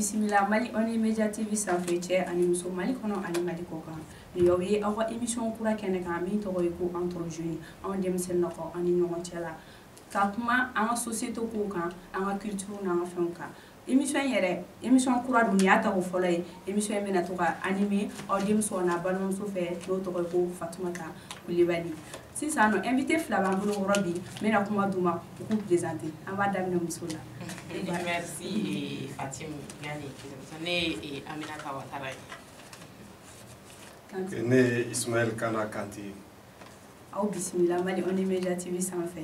bisimila mali ɔni media tv sanfɛ cɛ ani muso mali kɔnɔ ani mali kɔkan nin y'aw ye aw ka émission kura kɛnɛ kan min tɔgɔ ye ko entre jeunes anw denmisɛn nɔgɔ an ni ɲɔgɔn cɛ la ka kuma an ka société kow kan an ka culture n'an ka fɛnw kan émission in yɛrɛ émission kura don nin y'a tako fɔlɔ ye émission in bɛna to ka animer aw denmuso n'a balimamuso fɛ n'o tɔgɔ ye ko fatumata kulibali sisan nɔ invité fila b'an bolo yɔrɔ bi n bɛna kuma d'u ma u k'u présenter an b'a daminɛ muso la merci fatimu yani ne ye aminata watara ye ne ye ismaɛl kana kante aw bisimila mali on media tv sanfɛ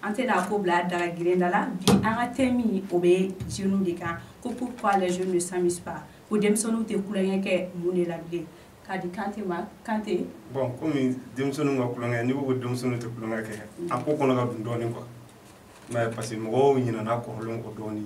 an tɛna ko bila daga girenda la bi an ka thème o bɛ jeunes de kan ko pourquoi les jeunes ne s'amusent pas ko denmisɛnninw tɛ tulonkɛ kɛ mun de la bilen k'a di kante ma kante bon komi denmisɛnninw ka tulonkɛ n'i ko ko denmisɛnninw tɛ tulonkɛ kɛ a ko kɔnɔ ka dun dɔɔnin quoi mais parce que mɔgɔw ɲinana kɔrɔlen kɔ dɔɔnin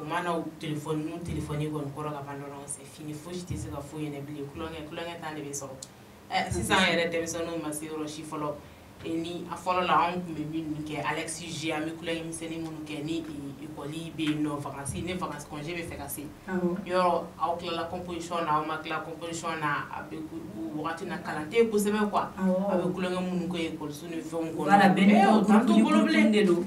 u mana telefɔni n'u telefɔni kɔni sɔrɔ ka ban dɔrɔn c'est fini fosi tɛ se ka f'u ɲɛna bilen tulonkɛ tulonkɛ temps de bɛ sɔrɔ ɛ sisan an yɛrɛ denmisɛnninw ma se yɔrɔ si fɔlɔ ni a fɔlɔ la anw tun bɛ minnu kɛ Alex G an bɛ tulonkɛ misɛnnin minnu kɛ ni ekɔli bɛ yen nɔ vacances ni vacances congé bɛ fɛ ka se yɔrɔ aw tilala composition na aw ma tila composition na a bɛ o wagati na kalan tɛ yen kosɛbɛ quoi a bɛ tulonkɛ minnu kɛ ekɔliso ni fɛnw kɔnɔ voilà bɛɛ n'i ka groupe groupe de don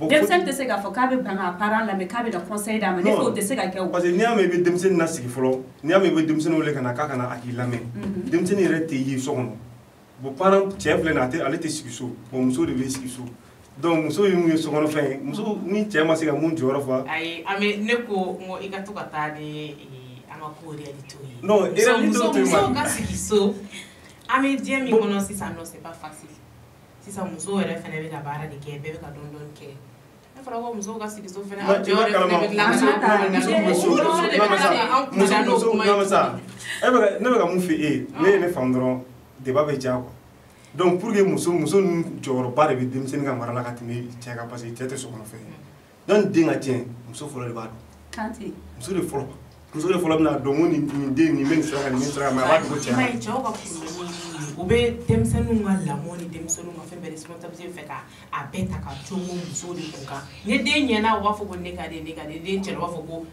denmisɛnnin tɛ se k'a fɔ k'a bɛ ban k'a parent lamɛn k'a bɛ na conseil d'a ma ne fɛ o tɛ se ka kɛ o parce que n'i y'a mɛn i bɛ denmisɛnnin lasigi fɔlɔ n'i y'a mɛn i bɛ denmisɛnnin wele ka na k'a ka na a k'i lamɛn mhm. denmisɛnnin yɛrɛ tɛ ye so kɔnɔ bon parent cɛ filɛ nin ye a tɛ ale tɛ sigi so bon muso de bɛ sigi so donc muso ye mun ye sokɔnɔfɛn ye muso ni cɛ ma se ka mun jɔyɔrɔ fa ayi an bɛ ne ko n ko i ka to ka taa ni eh, an ka ko réalité ye non réalité tɛ muso ka sigi so an bɛ diɲɛ min kɔnɔ sisan non c'est pas facile sisan musow yɛrɛ fana bɛ ka baara de kɛ bɛɛ bɛ ka dɔɔnin dɔɔnin kɛ n'a fɔra ko musow ka sigi so fana aw jɔyɔrɔ fana bɛ dilan ka na ne bɛ ka min fɔ e ye n'e ye ne faamu dɔrɔn débat bɛ diya quoi donc pour que muso muso ninnu jɔyɔrɔba de bɛ denmisɛnnin ka mara la ka tɛmɛ cɛ kan parce que cɛ tɛ sokɔnɔfɛn ye donc ni den ka tiɲɛ muso fɔlɔ de b'a dɔn kante muso de fɔlɔ muso de fɔlɔ bɛna dɔn ko nin nin den nin bɛ nin sira kan nin bɛ nin sira kan mais a b'a dogo cɛ la ayi, cɛw ka problème ye u bɛ denmisɛnninw ka lamɔ ni denmisɛnninw ka fɛn bɛɛ responsabilité fɛ ka a bɛɛ ta ka cogo musow de kun kan ni den ɲɛna u b'a fɔ ko ne ka den ne ka den ni den cɛna u b'a fɔ ko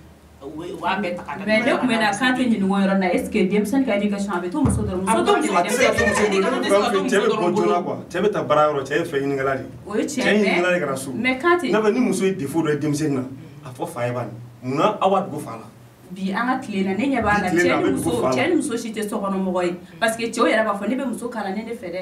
bɛɛ ta ka mais ne tun bɛ na kante ɲininka o yɔrɔ la est ce que denmisɛnnin ka éducation a bɛ to muso dɔrɔn muso dɔrɔn de bɛ denmisɛnnin cɛ bɛ bɔ joona quoi cɛ bɛ taa baara yɔrɔ cɛ ye fɛn ɲininkɛla de ye o ye tiɲɛ cɛ ɲininkɛla de ka na so mais kante n'a fɛ ni muso ye défaut dɔ ye denmisɛnnin na a fɔ fa ye bani munna aw b'a dogo fa la bi an ka tile na ne ɲɛ b'a la cɛ ni muso cɛ ni muso si tɛ sokɔnɔmɔgɔ ye parce que cɛw yɛrɛ b'a fɔ ne bɛ muso kalannen de fɛ dɛ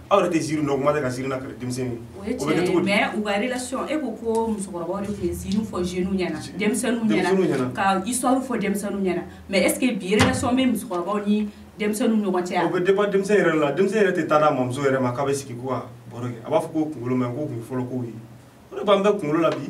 aw yɛrɛ tɛ ziiri dɔn kuma tɛ ka ziiri lakali denmisɛnnin o ye tiɲɛ ye mais u ka relation e ko ko musokɔrɔbaw de tun ye ziiri fɔ jeunes ɲɛna denmisɛnninw ɲɛna ka histoire fɔ denmisɛnninw ɲɛna mais est ce que bi relation bɛ musokɔrɔbaw ni denmisɛnninw ɲɔgɔn cɛ yan o bɛ dépend denmisɛn yɛrɛ la denmisɛn yɛrɛ tɛ taa n'a mamuso yɛrɛ ma k'a bɛ sigi ko ka baro kɛ a b'a fɔ k'o kunkolo man ɲi k'o tun ye fɔlɔ kow ye o de b'an bɛɛ kunkolo la bi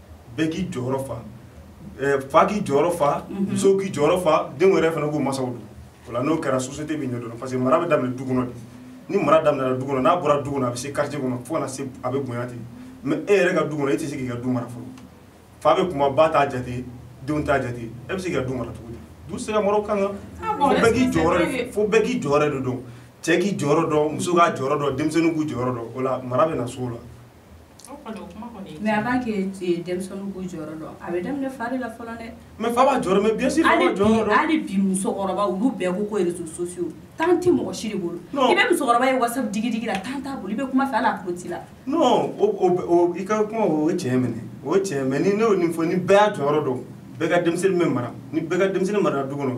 bɛɛ k'i jɔyɔrɔ fa fa k'i jɔyɔrɔ fa musow k'i jɔyɔrɔ fa denw yɛrɛ fana k'u masaw dɔn o la n'o kɛra société bɛ ɲɛdɔn parce que mara bɛ daminɛ du kɔnɔ de ni mara daminɛna du kɔnɔ n'a bɔra du kɔnɔ a bɛ se quartier kɔnɔ fo ka na se a bɛ bonya ten mais e yɛrɛ ka du kɔnɔ e tɛ se k'i ka du mara fɔlɔ fa bɛ kuma ba t'a jate denw t'a jate e bɛ se k'i ka du mara cogo di du tɛ se ka mara o kan kan ah fo bɛɛ k'i jɔyɔrɔ fo bɛɛ k'i jɔyɔrɔ de dɔn cɛ k'i jɔyɔrɔ dɔn muso k'a jɔyɔrɔ dɔn denmisɛnninw k'u jɔyɔrɔ dɔn o la mara bɛ na s'o la mais avant que denmisɛnninw k'u jɔyɔrɔ dɔn a bɛ daminɛ fa de la fɔlɔ dɛ mais fa b'a jɔyɔrɔ mais bien sûr hali bi musokɔrɔba olu bɛɛ ko ko réseaux sociaux temps tɛ mɔgɔ si de bolo i bɛ musokɔrɔba ye whatsapp digidigi la temps t'a bolo i bɛ kuma fɛ hali a tulo t'i la non i ka kuma o ye tiɲɛ mais ne o ye tiɲɛ mais ni ne y'o nin fɔ ni bɛɛ y'a jɔyɔrɔ dɔn bɛɛ ka denmisɛnnin bɛ mara ni bɛɛ ka denmisɛnnin mara du kɔnɔ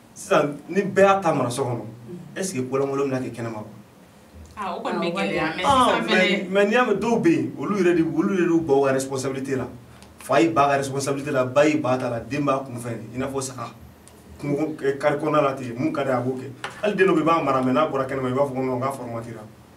sisan ni bɛɛ y'a ta mara so kɔnɔ est ce que kolankolo bɛna kɛ kɛnɛma ah, o kɔni bɛ ah, gɛlɛya mais ah, sisan fɛnɛ mais n'i y'a mɛn dɔw bɛ yen olu yɛrɛ de olu yɛrɛ de y'u ban u ka responsabilité la fa y'i ban a ka responsabilité la ba y'i ban a ta la den b'a kunfɛ i n'a fɔ saga kungo kari kɔnɔna la ten mun ka di a b'o kɛ hali den dɔ bɛ yen i b'a mara mais n'a bɔra kɛnɛma i b'a fɔ ko non k'a formatira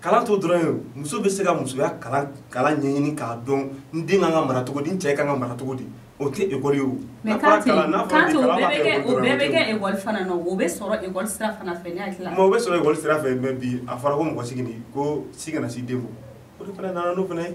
kalan t'o dɔrɔn ye muso bɛ se ka musoya kalan kalan ɲɛɲini k'a dɔn n den kan ka mara cogo di n cɛ kan ka mara cogo di o tɛ ekɔli ye o mais kante kante o bɛɛ bɛ kɛ o bɛɛ bɛ kɛ ekɔli fana na o bɛ sɔrɔ ekɔli sira fana fɛ ne hakili la o bɛ sɔrɔ ekɔli sira fɛ mais bi a fɔra ko mɔgɔ si kana ko si kana se den ma o de fana nana n'o fana ye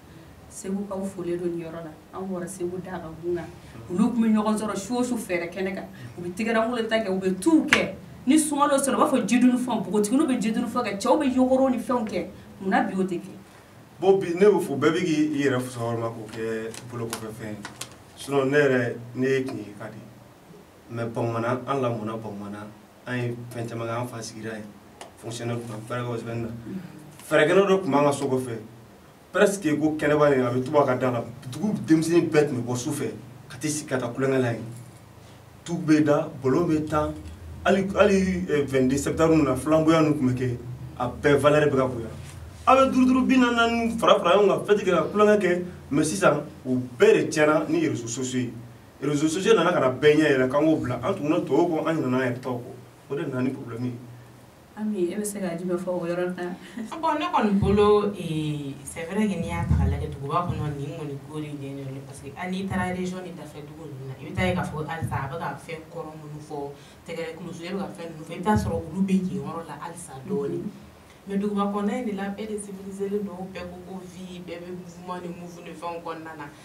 segukaw folen don nin yɔrɔ la an bɔra segu da ka gun kan olu tun bɛ ɲɔgɔn sɔrɔ su o su fɛrɛ kɛnɛ kan u bɛ tigɛrangolo ta kɛ u bɛ tuw kɛ ni sunkalo sɔrɔ u b'a fɔ jidunu fɛnw npogotiginiw bɛ jidunu fɛnw kɛ cɛw bɛ yogorow ni fɛnw kɛ mun na bi o tɛ kɛ bon bi ne b'a fɔ bɛɛ bɛ k'i yɛrɛ fusaya o de ma k'o kɛ bolokɔfɛfɛn ye sinon ne yɛrɛ ne ye kungiri ka de ye mais bamanan an lamɔna bamanan an ye fɛn caman kɛ an fa sigira yen fonctionnaire tun bɛ fɛɛrɛkɛw sɛbɛnni na fɛrɛkɛnɛ dɔ tun b'an ka so kɔfɛ presque ko kɛnɛba in a bɛ tuba ka da la dugu denmisɛnnin bɛɛ tun bɛ bɔ su fɛ ka t'i sigi ka taa kulonkɛ la yen tu bɛ da ballon bɛ tan hali hali 22 septembre ninnu na flamboyant ninnu tun bɛ kɛ a bɛɛ valeur bɛ ka bonya aw bɛ duuru duuru bi naani fara fara ɲɔgɔn kan fête kɛ ka kulonkɛ kɛ mais sisan o bɛɛ de tiɲɛna ni réseaux sociaux ye réseaux sociaux nana ka na bɛɛ ɲɛ yɛlɛ k'an k'o bila an tuguna tɔw kɔ an ɲinana an yɛrɛ taw kɔ o de nana ni problème ye Ami e bɛ se ka jumɛn fɔ o yɔrɔ la bon ne kɔni bolo c'est vrai que n'i y'a ta k'a lajɛ duguba kɔnɔ nin kɔni ko de parce que hali n'i taara région ni dafɛ dugu ninnu na i bɛ taa ye k'a fɔ halisa a bɛ ka fɛn kɔrɔ minnu fɔ tɛgɛrɛ kulon e bɛ ka fɛn ninnu fɔ i bɛ t'a sɔrɔ olu bɛ yen yɔrɔ la halisa dɔɔnin mais duguba kɔnɔna in de la bɛɛ de civilisélen don bɛɛ ko ko vie bɛɛ bɛ mouvement ni move fɛn kɔnɔna na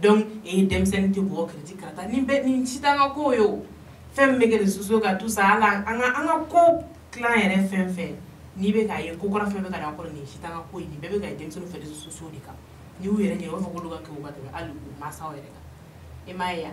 donc e ye denmisɛnnin tɛ bɔ kiriti karata nin si t'an ka ko ye o fɛn min bɛ kɛ réseaux sociaux kan tout ça hali an ka an ka ko tilan yɛrɛ fɛn fɛn n'i bɛ k'a ye ko kura fɛn bɛ ka na kɔrɔ nin si t'an ka ko ye nin bɛɛ bɛ ka ye denmisɛnninw fɛ réseaux sociaux de kan n'i y'u yɛrɛ ɲininka u b'a fɔ k'olu ka kegun ka tɛmɛ hali u mansaw yɛrɛ kan i m'a ye wa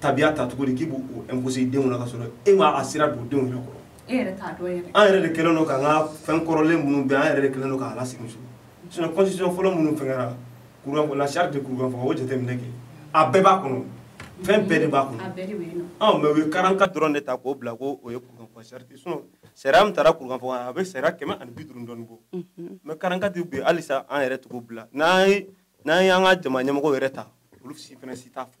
tabiya ta cogo di k'i b'o imposer i denw na ka sɔrɔ e m'a sira don denw yɛrɛ kɔrɔ e yɛrɛ t'a dɔn yɛrɛ an yɛrɛ de kɛlen don k'an ka fɛn kɔrɔlen minnu bɛ an yɛrɛ de kɛlen don k'a lasegin so sinon constitution fɔlɔ minnu fɛnkɛra kurukanfuga la charte de kurukanfuga o jateminɛ kɛ a bɛɛ b'a kɔnɔ fɛn bɛɛ de b'a kɔnɔ ɔ mais u ye quarante-quatre dɔrɔn de ta k'o bila ko o ye kurukanfuga charte sinon sariya min tara kurukanfuga kan a bɛ sariya kɛmɛ ani bi duuru dɔɔni bɔ mais quarante-quatre de bɛ yen halisa an yɛrɛ tugu bila n'an ye n'an ye an ka jama ɲɛmɔgɔw yɛrɛ ta olu si fana si t'a fɔ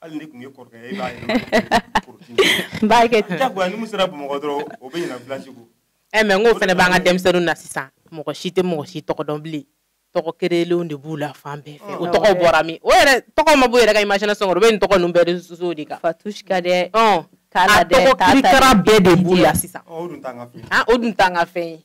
hali n'i tun ye kɔrɔkɛ ye e b'a ye n b'a kɛ ten jagoya ni min sera bamakɔ dɔrɔn o bɛ ɲina village kɔ ɛ eh, mais n k'o fana b'an ka denmisɛnninw na sisan mɔgɔ si tɛ mɔgɔ si tɔgɔ dɔn bilen tɔgɔ créerlenw de b'u la fan bɛɛ fɛ o tɔgɔ bɔra min o yɛrɛ tɔgɔ ma bɔ yɛrɛ ka imagination kɔnɔ o bɛ nin tɔgɔ ninnu bɛɛ réseaux sociaux de kan fatouchka dɛ a tɔgɔ kirikara bɛɛ de b'u la sisan o dun t'an ka fɛn ye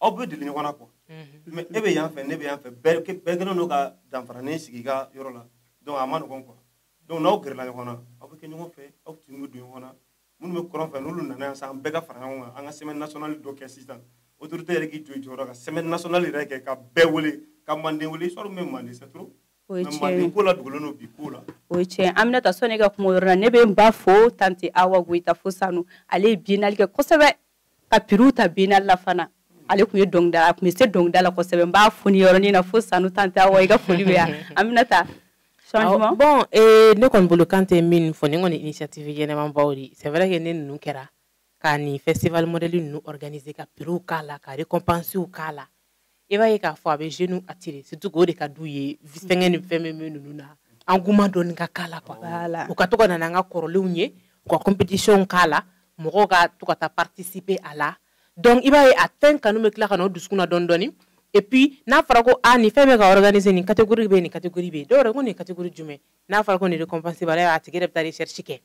aw bɛ deli ɲɔgɔn na quoi mhm. mais e bɛ yan fɛ ne bɛ yan fɛ bɛɛ kɛlen don ka danfaranin sigi i ka yɔrɔ la donc a ma nɔgɔn quoi donc n'aw gɛrɛla ɲɔgɔn na aw bɛ kɛ ɲɔgɔn fɛ aw tin bɛ don ɲɔgɔn na minnu bɛ kɔrɔn fɛ n'olu nana yan sisan an bɛɛ ka fara ɲɔgɔn kan an ka semaine nationale dɔ kɛ sisan autorité yɛrɛ k'i jɔ i jɔyɔrɔ kan semaine nationale yɛrɛ kɛ ka bɛɛ wele ka manden wele histoire min bɛ manden c'est trop o ye tiɲɛ ye ko la dogolen don bi ko la o ye tiɲɛ aminata sanni ka kuma o yɔrɔ la ne bɛ n ba fo tante awa goyita fo sanu ale ye biennale kɛ kosɛbɛ ka prix ta biennale la fana ale tun ye dɔnkilidala a tun bɛ se dɔnkilida la kosɛbɛ n b'a fo nin yɔrɔnin na fo sanu tante awa i ka foli bɛ yan aminata changement bon eh, ne kɔni bolo kante min fɔ nin kɔni initiative ɲɛnɛmanbaw de c'est vrai que ni ninnu kɛra ka nin festival modèle ninnu organiser ka prix k'a la ka récompenses k'a la i b'a ye k'a fɔ a bɛ jeunes attirer surtout k'o de ka d'u ye fɛngɛ ni fɛn bɛ min ninnu na engouement dɔɔni ka k'a la quoi voilà. u ka to ka na n'an ka kɔrɔlenw ye u ka compétition k'a la mɔgɔw ka to ka taa participer a la donc i b'a ye a fɛn kanu bɛ tila ka na o dusukun na dɔɔni dɔɔni et puis n'a fɔra ko ah nin fɛn bɛ ka organiser nin catégorie bɛ yen nin catégorie bɛ yen dɔw yɛrɛ ko nin ye catégorie jumɛn n'a fɔra ko nin récompense b'a la a tigi yɛrɛ bɛ taa recherche kɛ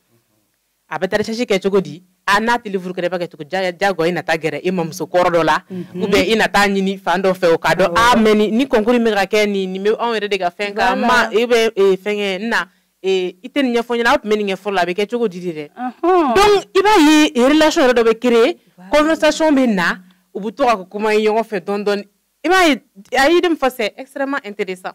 a bɛ taa recherche kɛ cogo di a n'a tɛ livre kɛrɛfɛ kɛ cogo jagoya i na taa gɛrɛ i mamuso kɔrɔ dɔ la ou bien i na taa ɲini fan dɔ fɛ o k'a dɔn mais ni concours bɛ ka kɛ nin nin bɛ anw yɛrɛ de ka fɛn kan e bɛ fɛngɛ na i tɛ nin ɲɛfɔ ɲɛna aw tun bɛ nin ɲɛfɔ la a bɛ kɛ cogo di dɛ donc i b'a ye relation yɛrɛ dɔ bɛ créer conversation bɛ na u bɛ to ka kuma ye ɲɔgɔn fɛ dɔɔni dɔɔni i b'a ye a ye min fɔ c'est extrêmement intéressant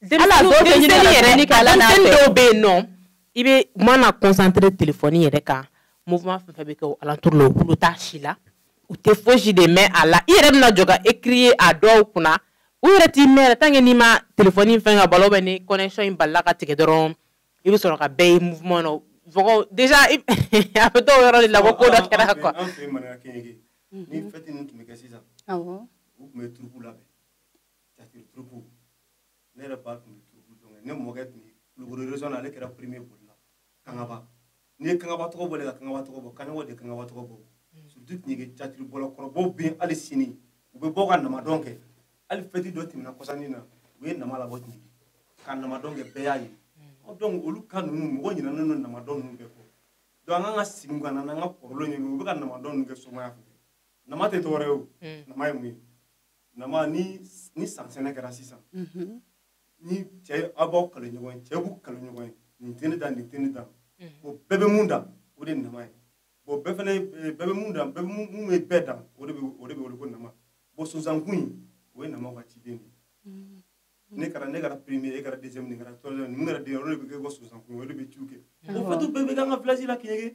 dɔw bɛ yen nɔ i bɛ mana concentrer telefɔni yɛrɛ kan mouvement fɛn fɛn bɛ kɛ alentour la u tulo t'a si la u tɛ foyisi de mɛn a la i yɛrɛ bɛna jɔ ka crier a dɔw kunna u yɛrɛ t'i mɛn yɛrɛ tant que n'i ma telefɔni fɛn ka b'a la ou bien ni connexion in bala ka tigɛ dɔrɔn i bɛ sɔrɔ ka bɛɛ ye mouvement na mɔgɔ de a bɛ dɔn o yɔrɔ de la ko ko dɔ kɛra quoi ni fête tun bɛ kɛ sisan u tun bɛ troupe labɛn catiri troupe ne yɛrɛ ba tun bɛ troupe dɔn ne mɔkɛ tun bɛ kulukoro région na ale kɛra premier bolila kangaba n'i ye kangaba tɔgɔ bɔ de ka kangaba tɔgɔ bɔ kaɲɔgɔn de kangaba tɔgɔ bɔ surtout kɛɲɛke catiri bɔla kɔrɔbaw bɛ yen hali sini u bɛ bɔ ka namadɔn kɛ hali fête dɔ tɛmɛna kɔsa nin na u ye nama labɔ kɛɲɛke ka namadɔn kɛ bɛɛ y'a ye donc olu ka ninnu mɔgɔ ɲinɛnen don namadɔn ninnu bɛɛ kɔ donc an k'an ka sigi ka na n'an ka kɔrɔlenw ye u bɛ ka namadɔn ninnu kɛ somaya fɛ nama tɛ dɔwɛrɛ ye o nama ye mun ye nama ni ni sansɛnɛ kɛra sisan mhm. ni cɛ aw b'aw kale ɲɔgɔn ye cɛ b'u kale ɲɔgɔn ye nin tɛ ne dan nin tɛ ne dan mhm. o bɛɛ bɛ mun dan o de nama ye bon bɛɛ fana bɛɛ bɛ mun dan bɛɛ mun bɛ bɛɛ dan o de bɛ o de bɛ wele ko nama bon sonsankun in o ye nama ka ciden de ye mhm. ne kɛra ne kɛra premier e kɛra deuxième ne kɛra troisième mun kɛra dernier o de bɛ kɛ ko sonsankun o de bɛ ciw kɛ o fête bɛɛ bɛ k'an ka village la kɛɲɛ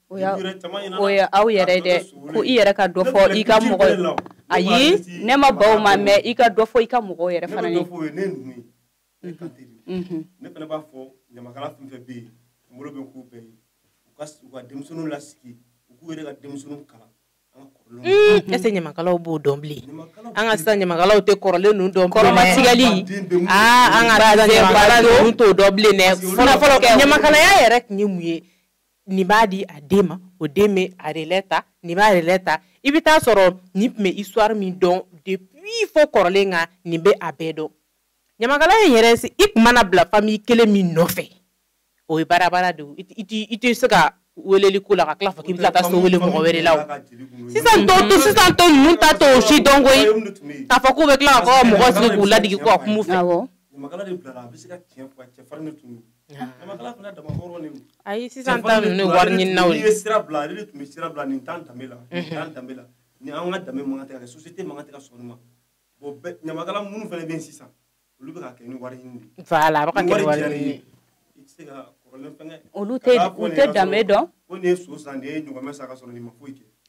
o ye o ye aw yɛrɛ de ko i yɛrɛ ka dɔ fɔ i ka mɔgɔ ayi ne ma ban o ma mais i ka dɔ fɔ i ka mɔgɔw yɛrɛ fana ye ne fana b'a fɔ ɲamakala fɛn fɛn bɛ yen n bolo bɛ n kɔ u bɛɛ ye u ka u ka denmisɛnninw lasigi u k'u yɛrɛ ka denmisɛnninw kalan est-ce que ɲamakalaw b'o dɔn bilen an ka sisan ɲamakalaw tɛ kɔrɔlen ninnu dɔn kɔrɔmatigɛli an ka ɲamakala ninnu t'o dɔn bilen dɛ fɔlɔ fɔlɔ ɲamakalaya yɛrɛ tun ye mun ye nin b'a di a den ma o den bɛ a relais ta nin b'a relais ta i bɛ taa sɔrɔ nin tun bɛ histoire min dɔn depuis fo kɔrɔlen kan nin bɛ a bɛɛ dɔn ɲamakala in yɛrɛ i tun mana bila famille kelen min nɔfɛ o ye baara de ye i tɛ se ka weleli ko la ka tila fɔ k'i bɛ taa so wele mɔgɔ wɛrɛ la o sisan tɔ to sisan tɔ ninnu ta t'o si dɔn koyi k'a fɔ k'u bɛ tila ka mɔgɔ sigi k'u ladigi k'u ka kum'u fɛ. ɲamakala fana dama hɔrɔn de don ayi sisan ta ninnu ye wari ɲininaw ye n'i ye sira bila ale de tun bɛ sira bila nin t'an danbe la nin mhm. t'an danbe la nin an ka danbe man kan tɛ ka kɛ société man kan tɛ ka sɔn nin ma bon bɛɛ ɲamakala minnu fana bɛ yen sisan olu bɛ ka kɛ ni wari ɲini de ye voilà a bɛ ka kɛ ni wari ɲini ye i tɛ se ka kɔrɔlen fɛngɛ olu tɛ u tɛ danbe dɔn ko nin ye so san nin ye ɲɔgɔmɛ san ka sɔrɔ nin ma foyi kɛ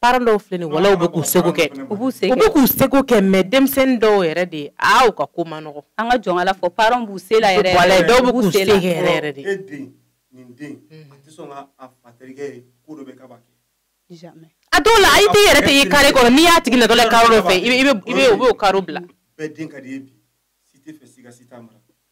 parents dɔw filɛ nin walayi u bɛ k'u seko kɛ u b'u se u bɛ k'u seko kɛ mais denmisɛnnin dɔw yɛrɛ de ye aw ka ko man nɔgɔ an ka jɔn ala fɔ parents b'u se yɛrɛ dɔw bɛ se yɛrɛ de a dɔw la i tɛ yɛrɛ tɛ i carré kɔnɔ n'i y'a tigi natɔ la carré dɔ fɛ i bɛ o carré bila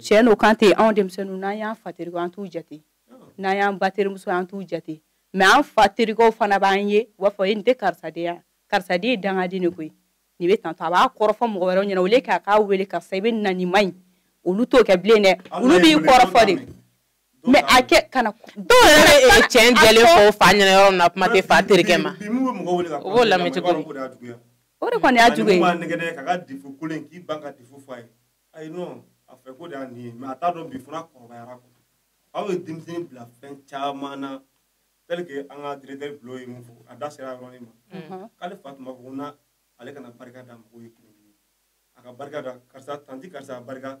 cɛn don kan tɛ anw denmisɛnninw n'an y'an fa terikɛ an t'u jate n'an y'an ba terimuso an t'u jate mais an fa terikɛw fana b'an ye u b'a fɔ e nin tɛ karisa den ye karisa den ye dangaden de koyi nin bɛ tan a b'a kɔrɔfɔ mɔgɔ wɛrɛw ɲɛna olu k'a k'a wele karisa i bɛ na nin ma ɲi olu t'o kɛ bilen dɛ olu b'i kɔrɔfɔ de mais a kɛ kana dɔw yɛrɛ bɛ cɛn jɛlen fɔ fa ɲɛna yɔrɔ min na kuma tɛ fa terikɛ ma o b'o lamɛn cogo di o de kɔni y'a jugu ye nɛgɛ ka ka défaut kelen k'i b'an ka défaut fɔ a ye ayi non a fɛ ko de y'a nin ye mais a t'a dɔn bi fana kɔrɔbayara ko aw ye denmisɛnnin bila fɛn caman na tel que an ka directeur bulo ye mun fɔ a da sera yɔrɔnin ma mhm. k'ale fa tun b'a fɔ ko na ale kana barika da mɔgɔw ye kelen kelen a ka barika da karisa tanti karisa barika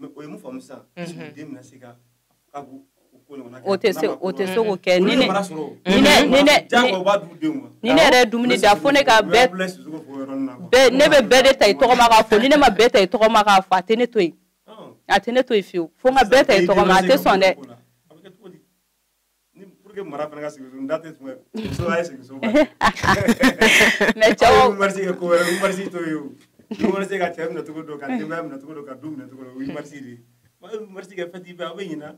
mais o ye mun faamu sisan mhm. den bɛna se ka ka o ɲɔgɔnna kɛ o tɛ se o tɛ se k'o kɛ ni ne ni ne ni ne jagoya b'a d'u denw ma ni ne yɛrɛ ye dumuni da fo ne ka bɛɛ bɛɛ ne bɛ bɛɛ de ta i tɔgɔ ma k'a fɔ ni ne ma bɛɛ ta i tɔgɔ ma k'a fɔ a tɛ ne to yen a tɛ ne to yen fiyewu fo n ka bɛɛ ta i tɔgɔ ma a tɛ sɔn dɛ ni pour que mara fana ka sigi so n da tɛ tun bɛ muso a ye sigi so mais cɛw mars kɛ ko wɛrɛ 8 mars to ye o 8 mars ka cɛ minɛ cogo dɔn ka denbaya minɛ cogo dɔn ka du minɛ cogo dɔn o ye mars de ye wa 8 mars kɛ fête bɛɛ aw bɛ ɲina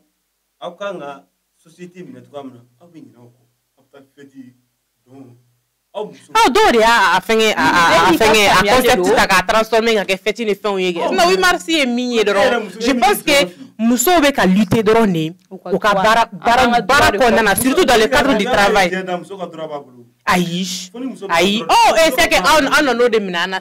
aw kan ka société minɛ cogoya min na aw bɛ ɲina o kɔ aw bɛ taa fête don aw dɔw de y'a fɛngɛ a fɛngɛ a concept ta k'a transformer ka kɛ fête ni fɛnw ye kɛ sinon 8 mars ye min ye dɔrɔn je pense que musow bɛ ka lutter dɔrɔn de u ka baara baara baara kɔnɔna na surtout dans le cadre du travail ayi ayi ɔ c'est que an nan'o de minɛ an na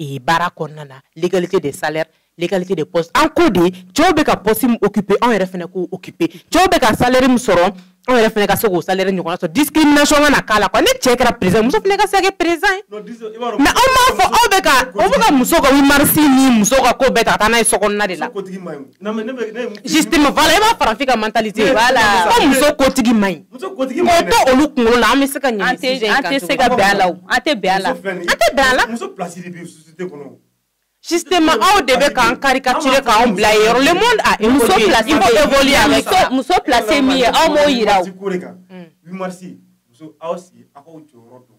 ee baara kɔnɔna na l'égalité de salaire l'égalité de poste an ko de cɛw bɛ ka poste min occuper anw yɛrɛ fana k'o occuper cɛw bɛ ka salaire min sɔrɔ anw yɛrɛ fana ka se k'o salaire ɲɔgɔnna sɔrɔ discrimination kana k'a la quoi ni cɛ kɛra président muso fana ka se ka kɛ président ye mais aw m'a fɔ aw bɛ ka aw bɛ ka muso ka 8 mars ni muso ka ko bɛɛ ta ka taa n'a ye sokɔnɔna de la justement voilà i b'a farafin ka mentalité voilà ko muso kotigi man ɲi o tɛ olu kunkolo la an bɛ se ka ɲɛ sujet in kan an tɛ se ka bɛn a la o an tɛ bɛn a la an tɛ bɛn a la muso place de bɛ société kɔnɔ justement aw de bɛ k'an caricature k'anw bila yen yɔrɔ le monde a évolué il faut évoluer avec ça muso place min ye aw m'o yira o 8 mars muso aw sigi aw k'aw jɔyɔrɔ dɔn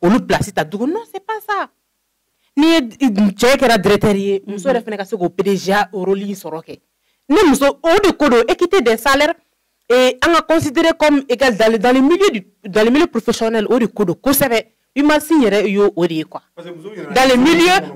olu place ta dugu non c'est pas ça ni cɛ kɛra directeur ye muso yɛrɛ fana ka se k'o PDG rôle in sɔrɔ kɛ ne muso o de ko don équité des salaires et an ka considérer comme égal dans, dans le milieu du dans le milieu professionnel o de ko don kosɛbɛ 8 mars yɛrɛ y'o o de ye quoi dans le milieu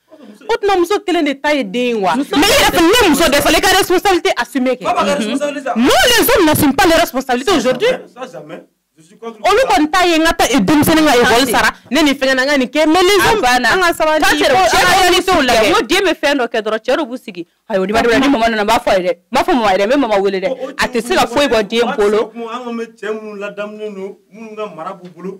o tuma muso kelen de ta ye den ye wa mais i yɛrɛ ne muso de fallait ka responsabilité assumer kɛ non les hommes n'assument pas les responsabilités aujourd'hui olu kɔni ta ye n ka taa denmisɛnnin ka école sara ne ni fɛnkɛ na n ka nin kɛ mais les hommes an ka sabali ko an ka réalitéw lajɛ n ko den bɛ fɛn dɔ kɛ dɔrɔn cɛ dɔw b'u sigi ayi o ni b'a dɔn ni mama nana n b'a fɔ a ye dɛ n b'a fɔ mama ye dɛ n bɛ mama wele dɛ a tɛ se ka foyi bɔ den bolo an kɔni bɛ cɛ minnu ladamunen don minnu ka mara b'u bolo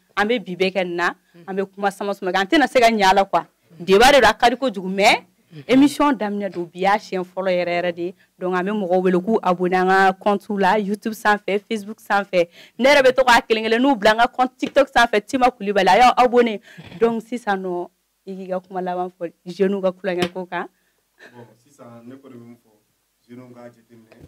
an bɛ bi bɛɛ kɛ nin na an bɛ kuma sama sama an tɛna se ka ɲɛ la quoi débat de don a ka di kojugu mais émission daminɛ don bi y'a siɲɛ fɔlɔ yɛrɛ yɛrɛ de donc an bɛ mɔgɔw wele k'u abonné an ka compte la youtube sanfɛ facebook sanfɛ ne yɛrɛ bɛ to k'a kelen kelenw bila an ka compte tiktok sanfɛ tima kulibali a y'aw abonné donc sisan nɔ i k'i ka kuma laban fɔ jeunes ka kulonkɛ ko kan sisan ne kɔni bɛ min fɔ jeunes k'a jateminɛ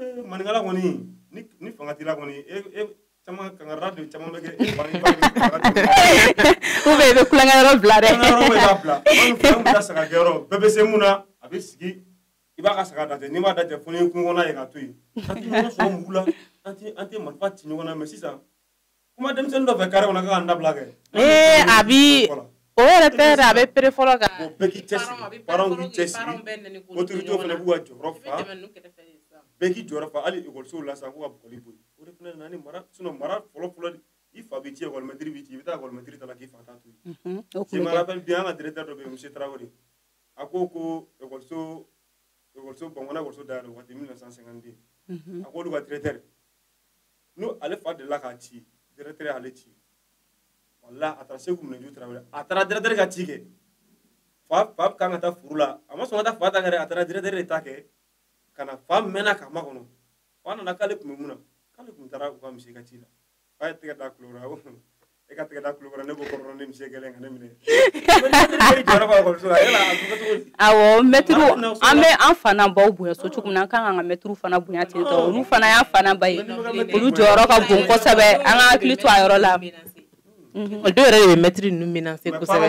ee maninkala kɔni ni ni fanga t'i la kɔni e e caman kankara de caman bɛ kɛ e ba ni ba ni kankara de ye. ou bien i bɛ kulonkɛ yɔrɔ bila dɛ An ka yɔrɔ bɛ k'a bila walima fɛn min ka saga kɛ yɔrɔ bɛɛ bɛ se mun na a bɛ sigi i b'a ka saga dajɛ n'i m'a dajɛ fo ni kungo kɔnɔ ye k'a to yen an tɛ ɲɔgɔn sɔrɔ mugu la an tɛ an tɛ marifa ci ɲɔgɔn na mais sisan kuma denmisɛnnin dɔ fɛ carré kɔnɔ k'an dabila kɛ ee a bi o yɛrɛ tɛ dɛ a bɛ pɛrɛn fɔlɔ kan o bɛɛ k'i cɛsiri parents k'i cɛsiri autorité fana b'u ka jɔyɔrɔ fa bɛɛ k'i jɔyɔrɔ fa hali ekɔlisow la sisan k'u ka bugɔli bɔ yen o de fana nana ni mara sinon mara fɔlɔ fɔlɔ de i fa b'i ci ekɔlimɛtiri b'i ci i bɛ taa ekɔlimɛtiri ta la k'i fa ta to yen je me rappelle bien an ka directeur dɔ bɛ yen monsieur Traoré a ko ko ekɔliso ekɔliso bankɔnɔ ekɔliso dayɛlɛ waati 1952 a k'olu ka directeur n'o ale fa delila k'a ci directeur y'ale ci wala a taara Seku Minanju Traoré a taara directeur ka ci kɛ fa k'a ka taa furu la a ma sɔn ka taa fa ta kɛ dɛ a taara directeur de ta kɛ ka na fa mɛnna k'a makɔnɔ fa nana k'ale tun bɛ mun na k'ale tun taara u ka monsieur ka ci la fa ye tɛgɛ da kulo la e ka tɛgɛ da tulo kɔrɔ ne ko kɔrɔ ne muso gɛlɛn ka ne minɛ awɔ mɛtiriw an bɛ an fana baw bonya so cogo min na an kan k'an ka mɛtiriw fana bonya ten tɔ olu fana y'an fana ba ye olu jɔyɔrɔ ka bon kosɛbɛ an ka hakili to a yɔrɔ la dɔw yɛrɛ de bɛ mɛtiri ninnu menacer kosɛbɛ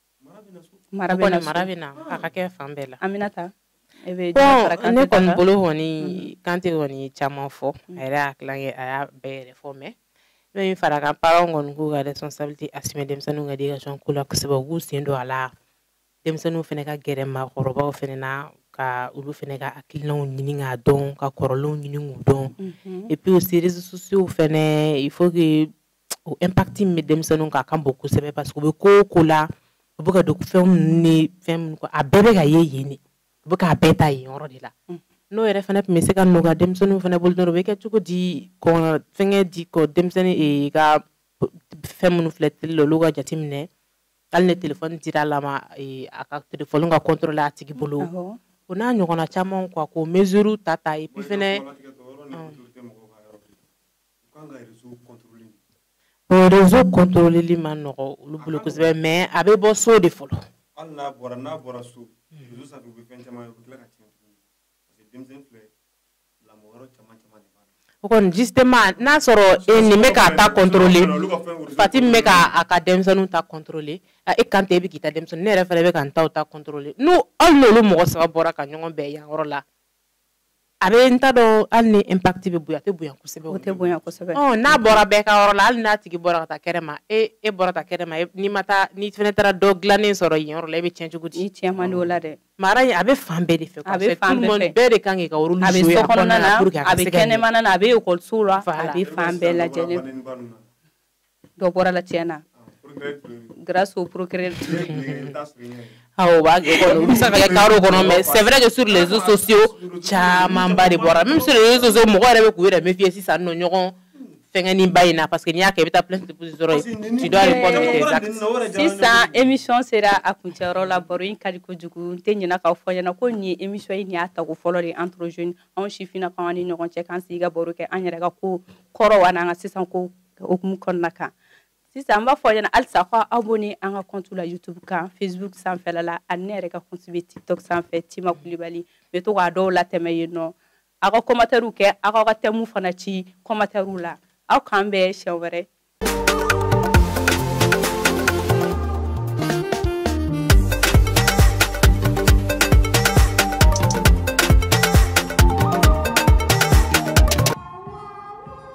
mara bɛ na so. mara bɛ na a ka kɛ fan bɛɛ la Aminata e bɛ bon Jara Kante ne kɔni bolo kɔni Kante kɔni ye caman fɔ a yɛrɛ y'a tilankɛ a y'a bɛɛ yɛrɛ fɔ mais ne bɛ min fara a kan parents kɔni k'u ka responsabilité assumer denmisɛnninw ka éducation ko la kosɛbɛ u k'u sen don a la denmisɛnninw fana ka gɛrɛ maakɔrɔbaw fana na ka olu fana ka hakilinaw ɲini k'a dɔn ka kɔrɔlenw ɲini k'u dɔn Mhm. et puis aussi réseaux sociaux fana il faut que o impact min bɛ denmisɛnninw kan a ka bon kosɛbɛ parce que u bɛ ko o ko la u bɛ ka don fɛn minnu ni fɛn minnu kɔ a bɛɛ bɛ ka ye yen de u bɛ k'a bɛɛ ta yen yɔrɔ de la mm. n'o yɛrɛ fana tun bɛ se ka nɔgɔya denmisɛnninw fana bolo dɔrɔn o bɛ kɛ cogo di kɔn fɛnkɛ di kɔ denmisɛnnin eh, ka fɛn minnu filɛ tele la olu ka jateminɛ hali ni telefɔni dira a la ma eh, a ka telefɔni ka contrôler a tigi bolo o n'a ɲɔgɔnna caman quoi k'o mesure ta ta et puis fana réseau contrôleli ma nɔgɔ olu bolo kosɛbɛ mais a bɛ bɔ so de fɔlɔ o kɔni justement n'a sɔrɔ e nin bɛ k'a ta contrôler Fati bɛ k' a ka denmisɛnninw ta contrôler e Kante e bɛ k'i ta denmisɛnnin ne yɛrɛ fana bɛ ka n taw ta contrôler hali n'olu mɔgɔ saba bɔra ka ɲɔgɔn bɛn yan yɔrɔ la a bɛ n ta dɔn hali ni impact bɛ bonya a tɛ bonya kosɛbɛ o tɛ bonya kosɛbɛ ɔ n'a bɔra bɛɛ ka yɔrɔ la hali n'a tigi bɔra ka taa kɛnɛ ma e e bɔra taa kɛnɛ ma e, n'i ma taa n'i fana taara dɔ dilannen sɔrɔ yen yɔrɔ la e bɛ tiɲɛ cogo di i tiɲɛ man di o la dɛ mara in a bɛ fan bɛɛ de fɛ a bɛ fan bɛɛ fɛ bɛɛ de kan k'i ka rôle jouer a bɛ so kɔnɔna na a bɛ kɛnɛmana na a bɛ ekɔlisow la a bɛ fan bɛɛ lajɛlen dɔ bɔra la tiɲɛ na grâce au procureur awɔ b'a kɛ kɔnɔ u bɛ se ka kɛ kaso kɔnɔ mais c'est vrai que sur les réseaux sociaux camanba de bɔra même sur les réseaux sociaux mɔgɔ yɛrɛ bɛ k'u yɛrɛ méfier sisan nɔ ɲɔgɔn fɛngɛni ba in na parce que n'i y'a kɛ i bɛ taa plainte déposer dɔrɔn tu dois répondre de tes actes sisan émission sera a kuncɛyɔrɔ la baro in ka di kojugu n tɛ ɲinɛ k'aw fɔ ɲɛna ko nin ye émission ye nin y'a tako fɔlɔ de entre jeunes anw sifinnakaw an ni ɲɔgɔn cɛ k'an sigi ka baro kɛ an yɛrɛ ka ko kɔrɔw a n'an ka sisan ko hukumu kɔnɔna kan sisan an b'a fɔ ɲɛna halisa ko abonner an ka compte la youtube kan facebook sanfɛla la ani ne yɛrɛ ka compte bɛ tiktok sanfɛ Tima Kulibali bɛ to k'a dɔw latɛmɛ yen nɔ aw ka kɔmatɛriw kɛ aw k'aw ka tɛmu fana ci kɔmatɛriw la aw k'an bɛn siɲɛ wɛrɛ